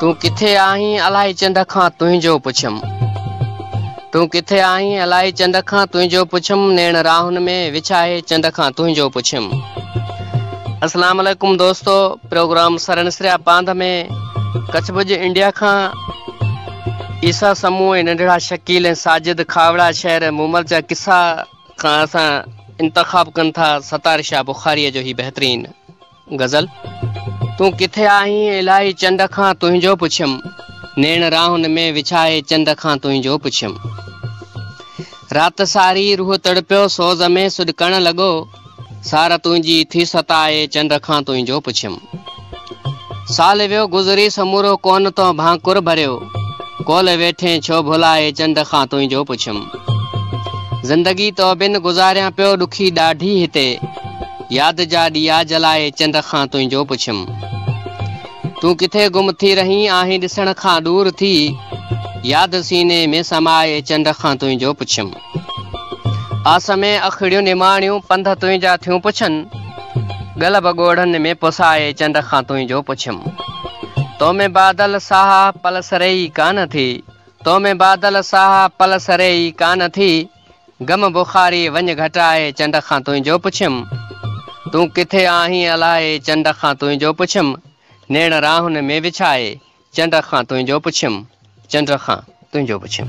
تون ڪٿي آهين الائي چنڊ کان تنهنجو پڇيم تون ڪٿي آهين الائي چنڊ کان تنهنجو پڇيم نيڻ راهن ۾ وڇاهي چنڊ کان تنهنجو پڇيم السلام عليڪم دوستو پروگرام سرنسريا پانڌ ۾ ڪڇ ڀڄ انڊيا کان عيسا سمو ۽ ننڍڙا شڪيل ۽ ساجد کاوڙا شهر مومل جا قصا کان اسان انتخاب ڪن ٿا ستار شاهه بخاري جو هي بهترين غزل، تون ڪٿي آهين الائي چنڊ کان تنهنجو پڇيم، نيڻ راهن ۾ وڇائي چنڊ کان تنهنجو پڇيم. رات ساري روح تڙپيو سوز ۾ سڏڪڻ لڳو، سار تنهنجي ٿي ستائي چنڊ کان تنهنجو پڇيم. سال ويو گذري سمورو ڪونه تو ڀانڪر ڀريو، ڪول ويٺين ڇو ڀلائي چنڊ کان تنهنجو پڇيم. زندگي تو بن گذاريان پيو ڏکي ڏاڍي هتي، ياد جا ڏيئا جلائي چنڊ کان تنهنجو پڇيم. تون ڪٿي گم ٿي رهين آهين ڏسڻ کان ڏور ٿي ياد سيني ۾ سمائي چنڊ کان تنهنجو پڇيم. آس ۾ اکڙيون نماڻيون پنڌ تنهنجا ٿيون پڇن ڳل به ڳوڙهن ۾ پسائي چنڊ کان تنهنجو پڇيم. تو ۾ بادل ساهه پلسري ئي ڪانه ٿي تو ۾ بادل ساهه پلسري ئي ڪانه ٿي. غم بخاري وڃ گهٽائي چنڊ کان تنهنجو پڇيم تون ڪٿي آهين الائي چنڊ کان تنهنجو پڇيم نيڻ راهن ۾ وڇائي چنڊ کان تنهنجو پڇيم چنڊ کان تنهنجو پڇيم.